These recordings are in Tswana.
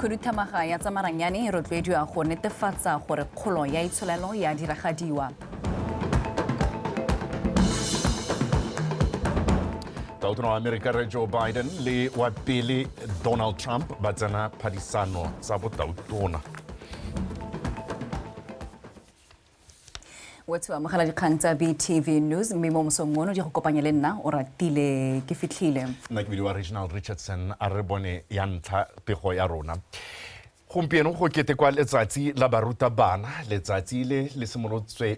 khuduthamaga ya tsa maranyane e rotloediwa go netefatsa gore kgolo ya itsholelo ya diragadiwa tautona wa amerika re joe biden le wa pele donald trump ba tsena phadisano tsa botautona wa tshiwa mogala dikgang tsa btv news mme mo mosong ono di go kopanya le nna o ratile ke fitlhile nna ke bile wa regional richardson a re bone ya ntlha pego ya rona gompieno go ketekwa letsatsi la baruta bana letsatsi le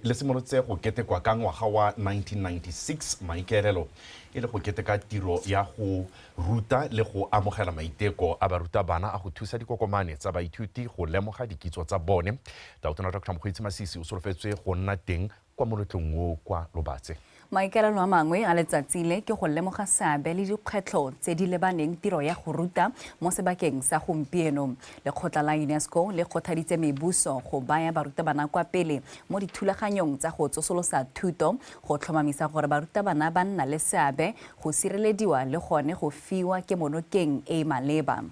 le simolotse go ketekwa ka ngwaga wa 1996 maikaelelo e le go keteka tiro ya go ruta le go amogela maiteko a baruta bana a go thusa dikokomane tsa baithuti go lemoga dikitso tsa bone Tautona Dr Mokgweetsi Masisi o solofetswe go nna teng kwa moletlong o kwa Lobatse. Maikaelelo a mangwe a letsatsi le ke go lemoga seabe le dikgwetlho tse di lebaneng tiro ya go ruta mo sebakeng sa gompieno. Lekgotla la UNESCO le kgothaditse mebuso go baya barutabana kwa pele mo dithulaganyong tsa go tsosolosa thuto, go tlhomamisa gore barutabana ba nna le seabe, go sirelediwa le gone go fiwa kemonokeng e e maleba.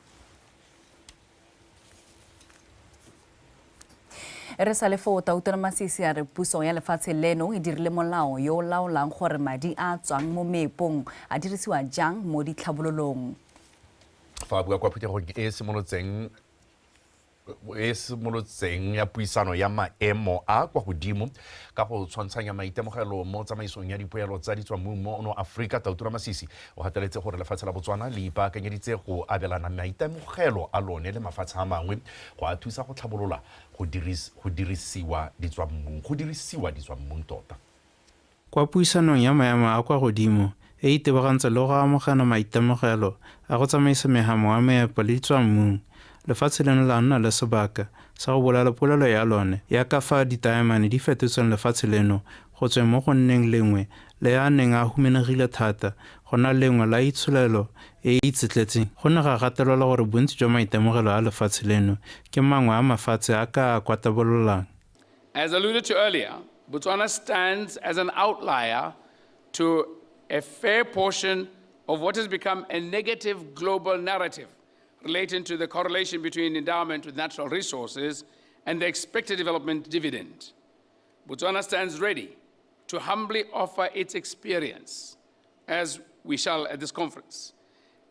re sa le foo tautere masisi a re puso ya lefatshe leno e dirile molao yo o laolang gore madi a tswang mo meepong a dirisiwa jang mo ditlhabololong fa bua kwa phuthegong e e simolotseng e simolotseng ya puisano ya maemo a kwa godimo ka go tshwantshanya maitemogelo mo tsamaisong ya dipoelo tsa ditswammung mo no aforika tautura masisi O gateletse gore lefatshe la Botswana le ipaakanyeditse go abelana maitemogelo a lone le mafatshe a mangwe go a thusa go tlhabolola go dirisiwa ditswammung, go dirisiwa ditswammung tota. Kwa puisanong ya maemo a kwa godimo e e tebagantse le go amogana maitemogelo a go tsamaisa megamo wa meepo le ditswammung, lefatshe leno la nna le sebaka sa go bolala polelo ya lone ya kafa ditaemane di fetotseng lefatshe leno Go tsweng mo go nneng lengwe le a neng a humanegile thata go na lengwe la itsholelo e e itsetletseng, go ne ga gatelelwa gore bontsi jwa maitemogelo a lefatshe leno ke mangwe a mafatshe a ka a kwatabololang. As alluded to earlier, Botswana stands as an outlier to a fair portion of what has become a negative global narrative relating to the correlation between endowment with natural resources and the expected development dividend. Botswana stands ready to humbly offer its experience, as we shall at this conference,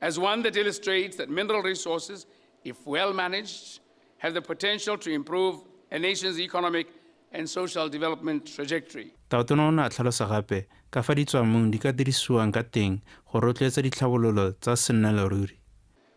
as one that illustrates that mineral resources, if well managed, have the potential to improve a nation's economic and social development trajectory. Taotona o ne a tlhalosa gape ka fa ditswamong di ka dirisiwang ka teng go rotloetsa ditlhabololo tsa sennaleruri.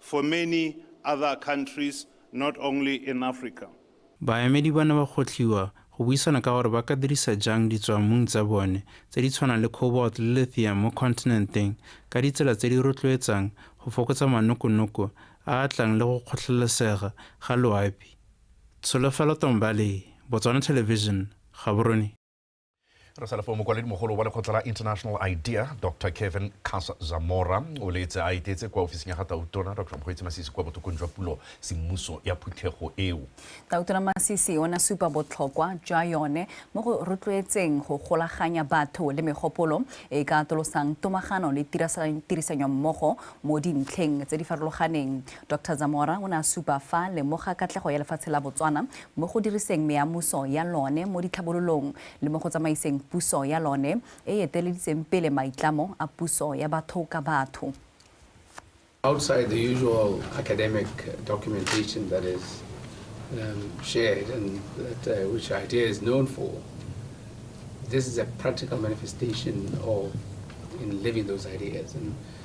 for many other countries not only in Africa. Baemedi ba ne ba kgotlhiwa go buisana ka gore ba ka dirisa jang ditswammung tsa bone tse di tshwanang le cobalt le lithium mo kontinenteng ka ditsela tse di rotloetsang go fokotsa manokonoko a a tlang le go kgotlhelesega ga loapi. Tsholofelo Tombale, Botswana Television, Gaborone. re sa lefo mokwaledi mogolo wa lekgotla la international idea dr kevin cas zamora o letse a etetse kwa ofising ya ga tautona dr mokgweetsi masisi kwa botokong jwa pulo semmuso ya phuthego eo tautona masisi o ne supa botlhokwa jwa yone mo go rotloetseng go golaganya batho le megopolo e ka atolosang tomagano le tirisanyo mmogo mo dintlheng tse di farologaneng Doctor Zamora o ne a supa fa lemoga katlego ya lefatshe la Botswana mo go diriseng meamuso ya lone mo ditlhabololong le mo go tsamaiseng puso ya lone e eteleditseng pele maitlamo a puso ya batho ka batho. Outside the usual academic documentation that is um, shared and that, uh, which IDEA is known for, this is a practical manifestation of in living those ideas. And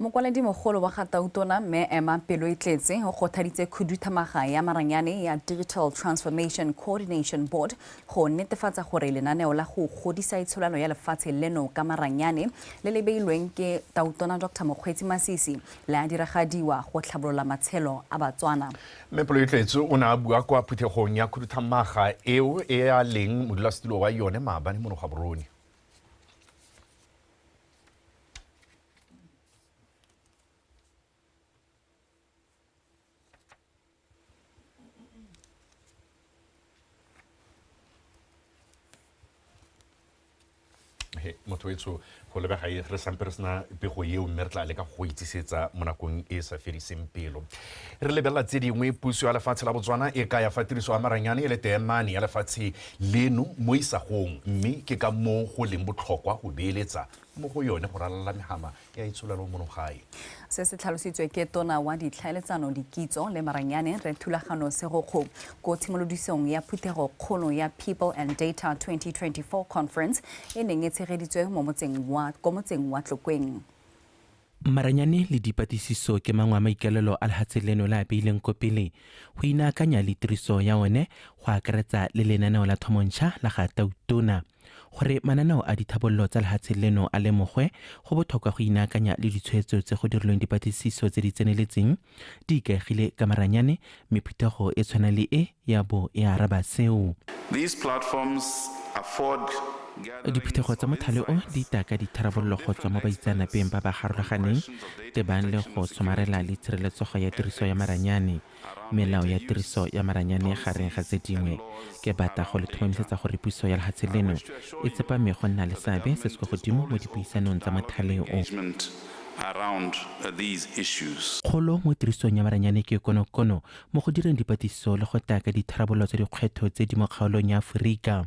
Mokwaledi-mogolo wa ga Tautona, Mme Emma Peloetletse, o kgothaditse khuduthamaga ya maranyane ya Digital Transformation Coordination Board go netefatsa gore lenaneo la go godisa itsholano ya lefatshe leno ka maranyane le le beilweng ke Tautona Dr Mokgweetsi Masisi le a diragadiwa go tlhabolola matshelo a Batswana. Mme Peloetletse o ne a bua kwa phuthegong ya khuduthamaga eo e a leng modulasetulo wa yone maabane mo Nogwaborone. motho etsho go lebega e re sampe re sena pego eo mme re tla leka go itsisetsa mo nakong e sa fediseng pelo re lebelela tse dingwe puso ya lefatshe la botswana e kaya fa tiriso ya maranyane e le teemane ya lefatshe leno mo isagong mme ke ka moo go leng botlhokwa go beeletsa mo go yone go ralala megama ya itsholelo mono gae. Se se tlhalositswe ke Tona wa Ditlhaeletsano, Dikitso le Maranyane, Rre Thulagano Segokgo, ko tshimolodisong ya phuthego kgolo ya People and Data 2024 Conference e neng e tshegeditswe mo motseng wa, ko motseng wa Tlokweng. Maranyane le dipatlisiso ke mangwe a maikaelelo a lehatshe leno le a beileng ko pele go inaakanya le tiriso ya one go akaretsa le lenaneo la thomontšha la ga Tautona. Gore mananeo a dithabololo tsa lehatshe leno a lemogwe, go botlhokwa go inaakanya le ditshwetso tse go dirilweng dipatlisiso tse di tseneletseng Di ikaegile ka maranyane, mme phuthego e tshwana le e ya bo e araba seo. These platforms afford Diphuthego tsa mothale o di itaka ditharabololo go tswa mo baitseanapeng ba ba garologaneng, tebang le go somarela le tshireletsogo ya tiriso ya maranyane, melao ya tiriso ya maranyane gareng ga tse dingwe. Ke batla go le tlhomamisetsa gore puso ya lehatshe leno e tsepame go nna le seabe se se kwa godimo mo dipuisanong tsa mothale o. Kgolo mo tirisong ya maranyane ke konokono mo go direng dipatlisiso le go taka ditharabololo tsa dikgwetlho tse di mo kgaolong ya Aforika.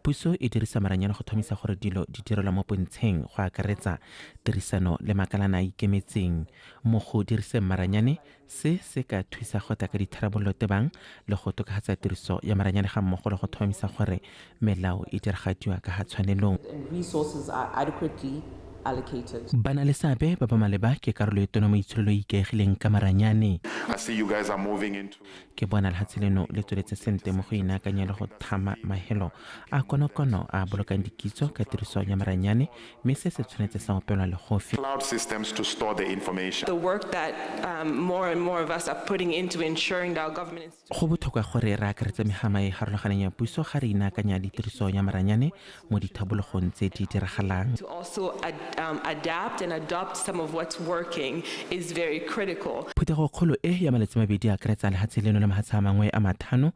Puso e dirisa maranyane go thomisa gore dilo di direlwa mo pontsheng, go akaretsa tirisano le makalana a a ikemetseng. Mo go diriseng maranyane, Se se ka thusa go tla ka ditharabololo tebang le go tokagatsa tiriso ya maranyane ga mmogo le go tlhomamisa gore melao e diragadiwa ka ga tshwanelong. Ba na le seabe ba ba maleba ke karolo e tona mo itsholelo e e ikaegileng ka maranyane. Ke bona lehatshe leno le tsweletse sentle mo go inaakanya le go thama mahelo a konokono a a bolokang dikitso ka tiriso ya maranyane mme se se tshwanetse sa opelwa le go fe. cloud systems to store the information. the work that um, more and more of us are putting into ensuring that our government institutions Go botlhokwa gore re akaretse megama e e farologaneng ya puso ga re inaakanya ditiriso ya maranyane mo dithabologong tse di diragalang. to also ad, um, adapt and adopt some of what's working is very critical. Phuthego kgolo e ya malatsi mabedi e akaretsa lehatshe leno le mahatshe a mangwe a mathano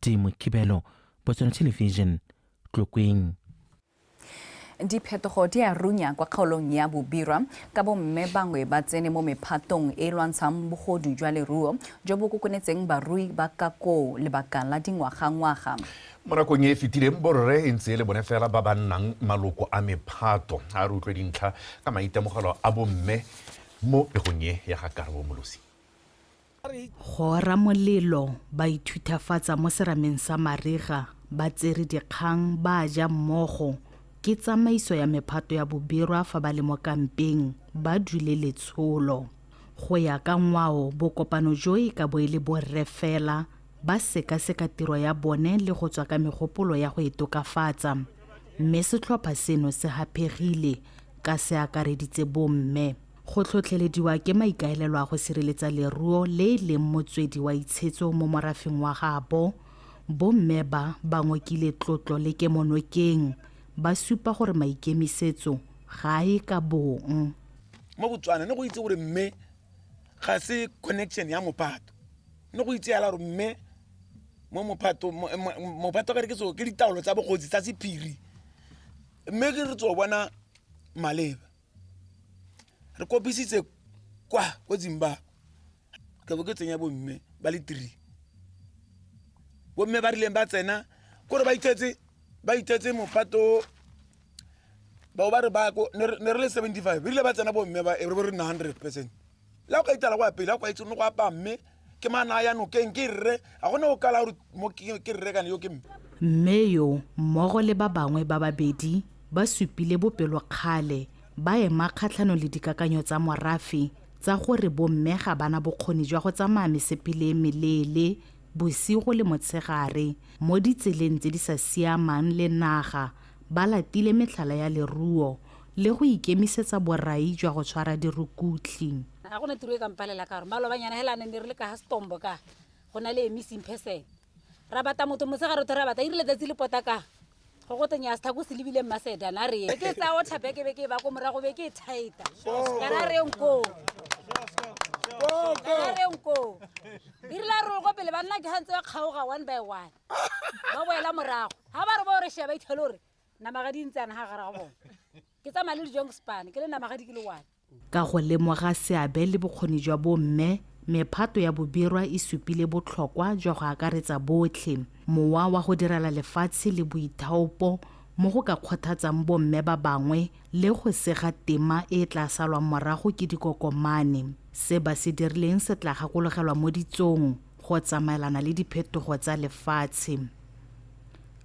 timo kibelo botswana television tlokweng diphetogo di a runya kwa kgaolong ya bobirwa ka bomme bangwe ba tsene mo mephatong e e lwantshang bogodu jwa leruo jo bo kokonetseng barui ba ka koo lebaka la dingwagangwaga mo nakong e e fetileng borre e ntse e le bone fela ba ba nnang maloko a mephato a re utlwe dintlha ka maitemogelo a bomme mo pegong e ya ga karabo molosi Go ora molelo, ba ithuthafatsa mo serameng sa mariga, ba tsere dikgang, ba ja mmogo. Ke tsamaiso ya mephato ya bobirwa fa ba le mo kampeng, ba dule letsholo. Go ya ka ngwao, bokopano jo e ka bo e le borre fela, ba sekaseka tiro ya bone le go tswa ka megopolo ya go e tokafatsa. Mme setlhopha seno se haphegile ka se akareditse bomme. Go tlhotlhelediwa ke maikaelelo a go sireletsa leruo le e leng motswedi wa itshetso mo morafeng wa gabo, bomme ba ba ngokile tlotlo le kemonokeng, ba supa gore maikemisetso ga a ye ka bong. Mo Botswana ne go itse gore mme ga se connection ya mophato, ne go itse yala gore mme mo mophato mophato kare ke tso ke ditaolo tsa bogosi tsa sephiri mme ke re tso bona maleba. re kopisitse kwa ko zimbabwe ke bo ke tsenya bomme ba le three bomme ba rileng ba tsena kore ba ithetse ba ithetse mopato bao ba re ba ko ne re le seventy five rile ba tsena bomme ba e re bo re nna hundred percent la o ka itala kwa pele a kwa itse mo go apaa mme ke mana a ya nokeng ke rre ga gone o kala gore mo ke ke rre kana yo ke mme Mme yo mmogo le ba bangwe ba babedi ba supile bopelokgale ba ema kgatlhanong le dikakanyo tsa morafe tsa gore bomme ga ba na bokgoni jwa go tsamaya mesepele e meleele bosigo le motshegare mo ditseleng tse di sa siamang le naga ba latile metlhala ya leruo le go ikemisetsa borai jwa go tshwara dirukutli ga gona tiro e kampalela ka gore malobanyana hela ne ne re le ka ga setombo ka go na le emissing person ra bata motho mosegare tho ra bata irile tsatsi le pota ka go go tenya setha ko se lebile mmaseda na re ke tsa o tlhape ke be ke ba ko morago be ke e thaeta kana re nko kana re nko irile a rolo ko pele banna ke gantse ba kgaoga one by one ba boela morago ga ba re ba o re sheba ithelo gore namagadi ntse ana ga gare ga bone ke tsamaya le dijong spane ke le namagadi ke le one ka go lemoga seabe le bokgoni jwa bomme mephato ya bobirwa e supile botlhokwa jwa go akaretsa botlhe mowa wa go direla lefatshe le boithaopo mo go ka kgothatsang bomme ba bangwe le go sega tema e e tla salwang morago ke dikokomane se ba se dirileng se tla gakologelwa mo ditsong go tsamaelana le diphetogo tsa lefatshe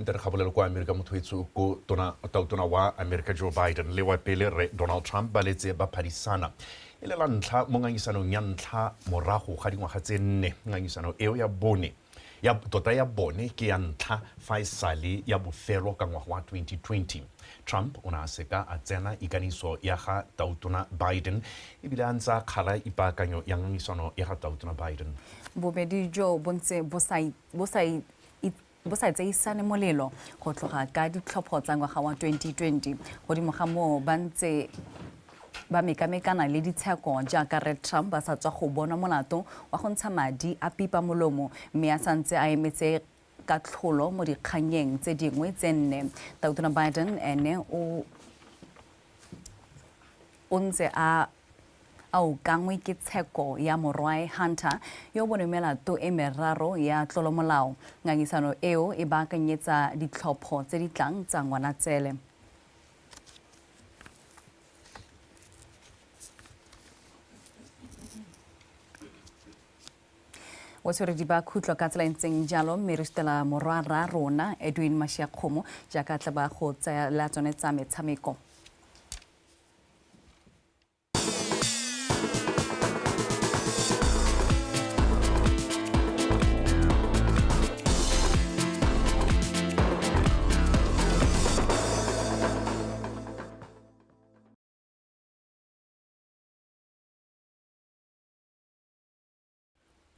nte re gabolelo kwa amerika mothoetso ko tona tautona wa amerika joe biden le wa pele re donald trump ba letse ba phadisana e le la ntlha mo ngangisanong ya ntlha morago ga dingwaga tse nne ngangisano eo ya bone ya tota ya bone ke ya ntlha fa e sale ya bofelo ka ngwaga wa 2020 trump o ne a seka a tsena ikaniso ya ga tautona biden ebile a ntse a kgala ipaakanyo ya ngangisano ya ga tautona biden bobedi joo bo ntse bo sa bo sa i- i- bo sa tseisane molelo go tloga ka ditlhopho tsa ngwaga wa 2020 godimo ga moo ba ntse ba mekamekana le ditsheko jaaka red trump ba sa tswa go bonwa molato wa go ntsha madi a pipa molomo mme a sa ntse a emetse katlholo mo dikgannyeng tse dingwe tse nne tautona biden ene o o ntse a a ukangwe ke tsheko ya morwae Hunter yo bone melato e meraro ya tlolomolao. Ngangisano eo e baakanyetsa ditlhopho tse di tlang tsa Ngwanatsele. o tshwere di ba khutlo ka tsela e ntseng jalo mme re sutela morwa ra rona edwin mashiakgomo jaaka tla ba go tsaya la tsone tsa metshameko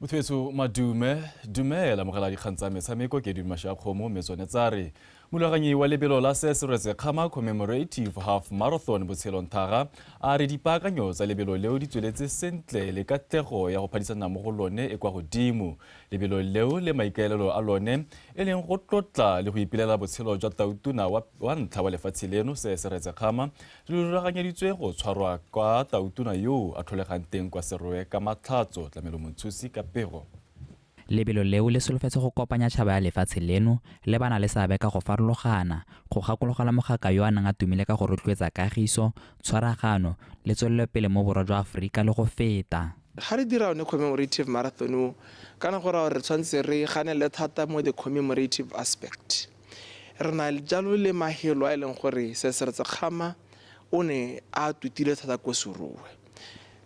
mothwetso madume dumela mogala dikgang tsa metshameko ke dumasha kgomo mme tsone tsa re molwaganyi wa lebelo la se se rwetse kgama commemorative half marathon botshelong thaga a re dipaakanyo tsa lebelo leo di tsweletse sentle le katlego ya go phadisana mo go lone e kwa godimo lebelo leo le maikaelelo a lone e leng go tlotla le go ipelela botshelo jwa tautuna wa ntlha wa lefatshe leno se se retse kgama Lo rulaganyeditswe go tshwarwa kwa tautona yoo a tlholegang teng kwa Serowe ka Matlhatso, Tlamelo Montshusi ka pego. Lebelo leo le solofetse go kopanya tšhaba ya lefatshe leno le ba na le seabe ka go farologana, go gakologelwa mogaka yo a neng a tumile ka go rotloetsa kagiso, tshwaragano le tswelelopele mo Borwa jwa Aforika le go feta. Ga re dira one commemorative marathon o, kana go raya gore re tshwanetse re ganelele thata mo the commemorative aspect. Re na jalo le Mahelo a e leng gore Sesere Sekgama o ne a tutile thata ko Seruwe.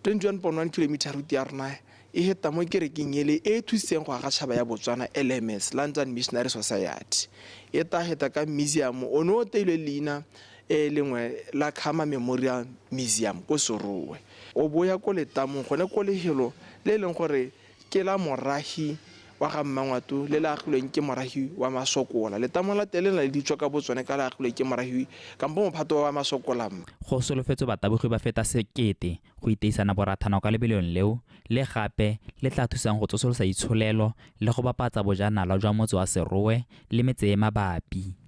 21.1 kilometer route ya rona e heta mo kerekeng ele e e thusitseng go aga tšhaba ya Botswana, LMS, London Missionary Society. E ta heta ka museum o ne o teilwe leina e lengwe la Khama Memorial Museum ko Seruwe. O bo o ya ko letamong gone ko lehelo le e leng gore Ke la moragi wa ga Mmangwato le le agilweng ke moragi wa Masokola. Letamo la teng le na le ditso ka botsone ka le agilwe ke moragi kampo mophato wa ba Masokola. Go solofetswe batabogi ba feta sekete go iteisana borathana kwa lebelong leo le gape le tla thusang go tsosolosa itsholelo le go bapatsa bojanala jwa motse wa Serowe le metse e mabapi.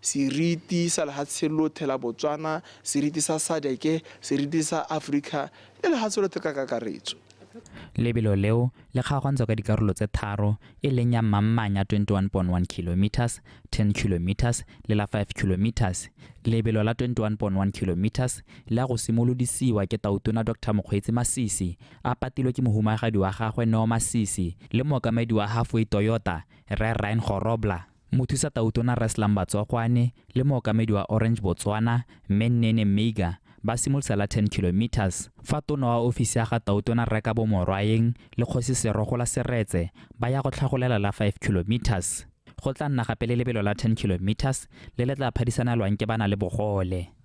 Seriti sa lehatshe lothe la Botswana, seriti sa sadc, seriti sa Afrika le lehatshe lothe ka kakaretso. Lebelo leo le kgaogantswa ka dikarolo tse tharo e leng ya mammanya 21.1 kilometres, 10 kilometres le la 5 kilometres. Lebelo la 21.1 kilometres le ya go simolodisiwa ke Tautona Doctor Mokgweetsi Masisi a patilwe ke mohumagadi wa gagwe Neo Masisi le mookamedi wa Halfway Toyota Rre Ryan Gorobla. Mothusa Tautona Res Lamba Tswakwane le mookamedi wa Orange Botswana Mme Nene Meiga ba simolotse la 10 kilometers fa tona wa ofisi ya ga Tautona Rre Kabo Morwaeng le Kgosi Serogola Seretse ba ya go tlhagolela la 5 kilometers. Go tla nna gape le lebelo la 10 kilometers le le tla phadisanelwang ke ba na le bogole.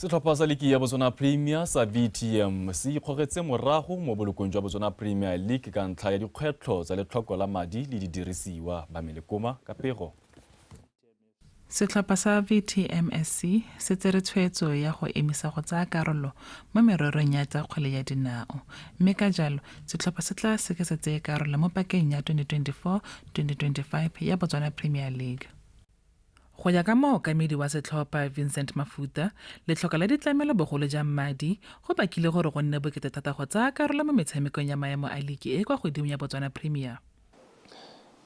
setlhopha sa liki ya botswana premier sa vtm se ikgogetse morago mo bolokong jwa botswana premier league ka ntlha ya dikgwetlho tsa letlhoko la madi le didirisiwa ba melekoma ka pego Setlhopha sa VTMSC se tsere tshwetso ya go emisa go tsaya karolo mo mererong ya tsa kgwele ya dinao, mme ka jalo setlhopha se tla seke sa tseye karolo mo pakeng ya 2024-2025 ya Botswana Premier League. Go ya ka mookamedi wa setlhopha, Vincent Mafuta, letlhoko la ditlamelo bogolo jang madi, go bakile gore go nne bokete thata go tsaya karolo mo metshamekong ya maemo a liki e e kwa godimo ya Botswana Premier.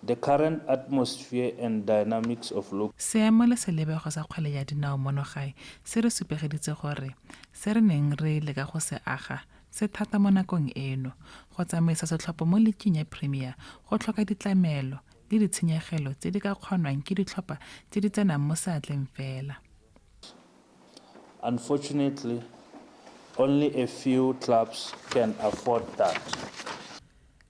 The current atmosphere and dynamics of local. Seemo le selebego sa kgwele ya dinao mono gae se re supegeditse gore se re neng re leka go se aga se thata mo nakong eno. Go tsamaisa setlhopho mo liking ya Premier go tlhoka ditlamelo, le ditshenyegelo tse di ka kgonwang ke ditlhopha tse di tsenang mo seatleng fela. Unfortunately, only a few clubs can afford that.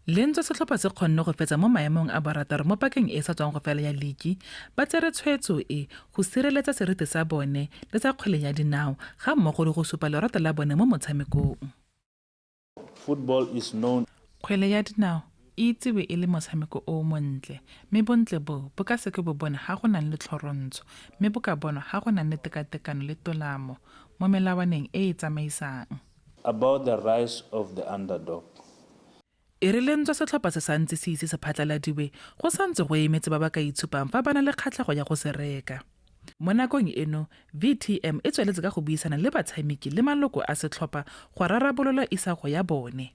Lentswe setlhopha se kgonne go fetsa mo maemong a borataro mo pakeng e e sa tswang go fela ya ligi, ba tsere tshwetso e go sireletsa seriti sa bone le sa kgwele ya dinao ga mmogo le go supa lorato la bone mo motshamekong. Kgwele ya dinao e itsewe e le motshameko o o montle, mme bontle boo bo ka seke bo bonwa ga go nang le tlhorontsho, mme bo ka bonwa ga go nang le tekatekano le tolamo mo melawaneng e e tsamaisang. E re le ntswa setlhopha se sa ntse se ise se phatlaladiwe, go sa ntse go emetse ba ba ka itshupang fa ba na le kgatlhego ya go se reka. Mo nakong eno, VTM e tsweletse ka go buisana le batshamiki le maloko a setlhopha go rarabolola isago ya bone.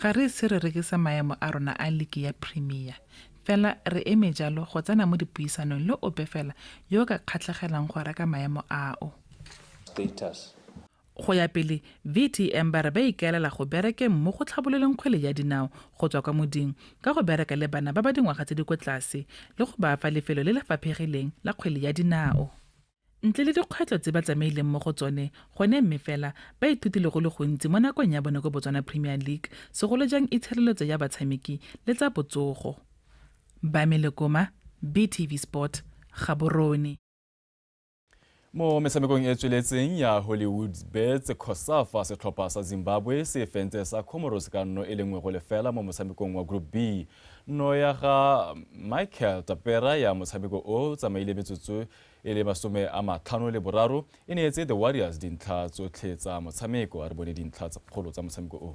Ga re ise re rekise maemo a rona a liki ya Premier, fela re eme jalo go tsena mo dipuisanong le ope fela yo o ka kgatlhegelang go reka maemo ao. Go ya pele, VTM ba re ba ikaelela go berekeng mo go tlhabololeng kgwele ya dinao go tswa kwa moding ka go bereka le bana ba ba dingwaga tse di ko tlase le go ba fa lefelo le le faphegileng la kgwele ya dinao. Ntle le dikgwetlho tse ba tsamaileng mo go tsone gone mme fela ba ithutile go le gontsi mo nakong ya bone ko Botswana Premier League, segolo jang itshireletso ya batshameki le tsa botsogo. Bami Lekoma, BTV Sport, Gaborone. mo metshamekong e tsweletseng ya hollywoods bets cosafa setlhopha sa zimbabwe se fentse sa comoros ka nno e le nngwe go lefela mo motshamekong wa group b nno ya ga michael tapera ya motshameko o tsamaile metsotso e le masome a matlhano le boraro e neetse the warriors dintlha tsotlhe tsa motshameko a re bone dintlha kgolo tsa motshameko o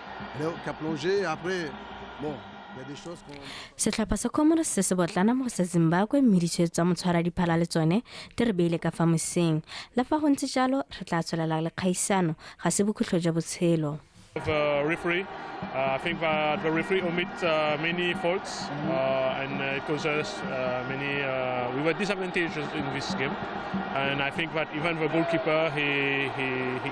setlhopha sa comoros se se botlana mo go sa zimbabwe mme ditshwetso tsa motshwara diphala le tsone di re beile ka fa moseng le fa go ntse jalo re tla tswelela le kgaisano ga se bokhutlho jwa botshelo uh, referee. Uh, I think that the referee omit uh, many faults mm-hmm. uh, and uh, it caused us uh, many. we were disadvantaged in this game, and I think that even the goalkeeper he he, he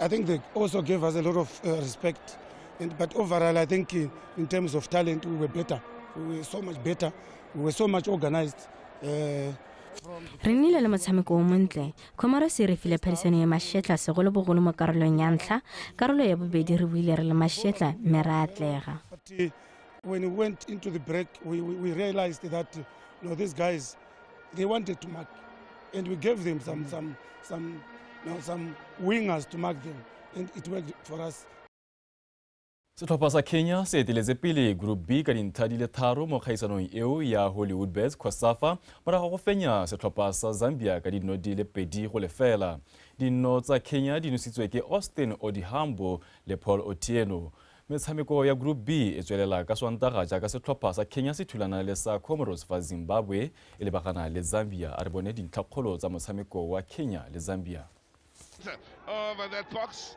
I think they also gave us a lot of uh, respect. And, but overall, I think in, uh, in terms of talent, we were better. We were so much better. We were so much organized. Uh, re nnile le motshameko o montle khomarose re file phadisano ya mašetla segolobogolo mo karolong ya ntlha karolo ya bobedi re buile re le mašetla mme ra atlega uh, when we went into the break we, we realized that you know, these guys They wanted to mark, and we gave them some, some, some, you know, some wingers to mark them, and it worked for us. setlhopha sa kenya se eteletse pele group b ka dintlha di le tharo mo kgaisanong eo ya hollywood bets cosafa morago go fenya setlhopha sa zambia ka dino di le pedi go lefela dino tsa kenya di nositswe ke austin odihambo le paul otieno Metshameko ya Group B e tswelela ka Swantaga jaaka setlhopha sa Kenya se thulana le sa Comoros fa Zimbabwe e lebagana le Zambia. A re bone dintlhakgolo tsa motshameko wa Kenya le Zambia. over that box.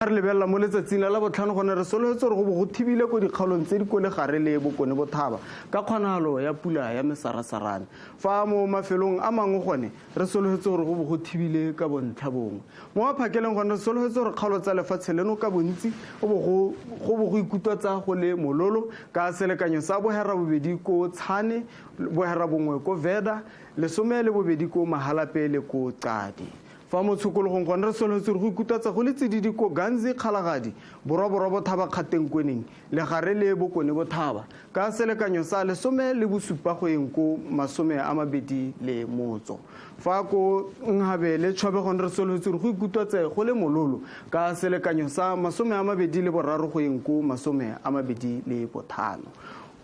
A re lebelela mo letsatsing la labotlhano gone re sologetse gore go bo go thibile ko dikgaolong tse di ko legare le bokone bothaba ka kgonagalo ya pula ya mesarasarane fa mo mafelong a mangwe gone re sologetse gore go bo go thibile ka bontlha bongwe mo maphakeleng gone re sologetse gore kgaolo tsa lefatshe leno ka bontsi go bo go ikutwa tsa go le mololo ka selekanyo sa bohera bobedi ko tshane bohera bongwe ko veda lesome le bobedi ko mahalape le ko qadi Fa mo tshokologong gone re solofetse gore go ikutatsa go le tsididi ko Ganzi, Kgalagadi, Borwaborwa Bothaba Kgatengkweneng, Legare le Bokone Bothaba, ka selekanyo sa lesome le bosupa go eng ko masome a mabedi le motso. Fa ko Nhabe le Tšhobe gone re solofetse gore go ikutatse go le mololo ka selekanyo sa masome a mabedi le boraro go eng ko masome a mabedi le bothano.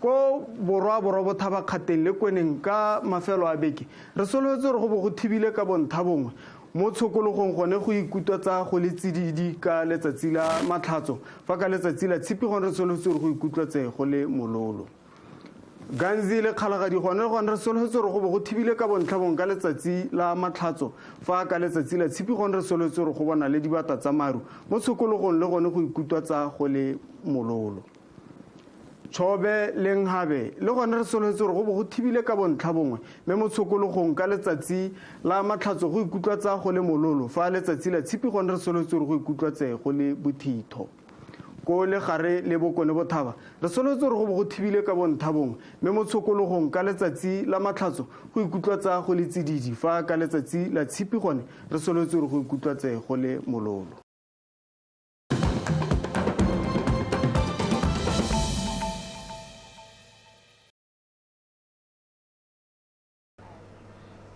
Ko Borwaborwa Bothaba Kgateng le Kweneng ka mafelo a beke Re solofetse gore go bo go thibile ka bonthabongwe mo tshokologong gone go ikutwa tsa go le tsididi ka letsatsi la Matlhatso fa ka letsatsi la Tshipi gone re solofetse gore go ikutlwa tse go le mololo. Ganzi le Kgalagadi gone gone re solofetse gore go bo go thibile ka bontlhabongwe ka letsatsi la Matlhatso fa ka letsatsi la Tshipi gone re solofetse gore go bona le dibata tsa maru mo tshokologong le gone go ikutwa tsa go le mololo. Tshobe le Nkgabe le gone re solofetse gore go bo go thibile ka bontlha bongwe mme mo tshokologong ka letsatsi la matlhatso go ikutlwa tsa go le mololo fa letsatsi la tshipi gone re solofetse gore go ikutlwa tse go le bothitho. Ko le gare le bokone bothaba re solofetse gore go bo go thibile ka bontlha bongwe mme mo tshokologong ka letsatsi la matlhatso go ikutlwa tsa go le tsididi fa ka letsatsi la tshipi gone re solofetse gore go ikutlwa tse go le mololo.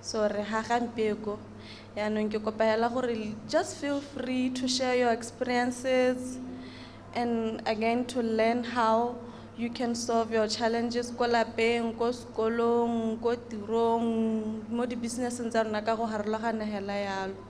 so re ga gampeko yaanong ke kopa hela gore just feel free to share your experiences and again to learn how you can solve your challenges ko lapeng ko sekolong ko tirong mo di-businesseng tsa rona ka go harologana hela yalo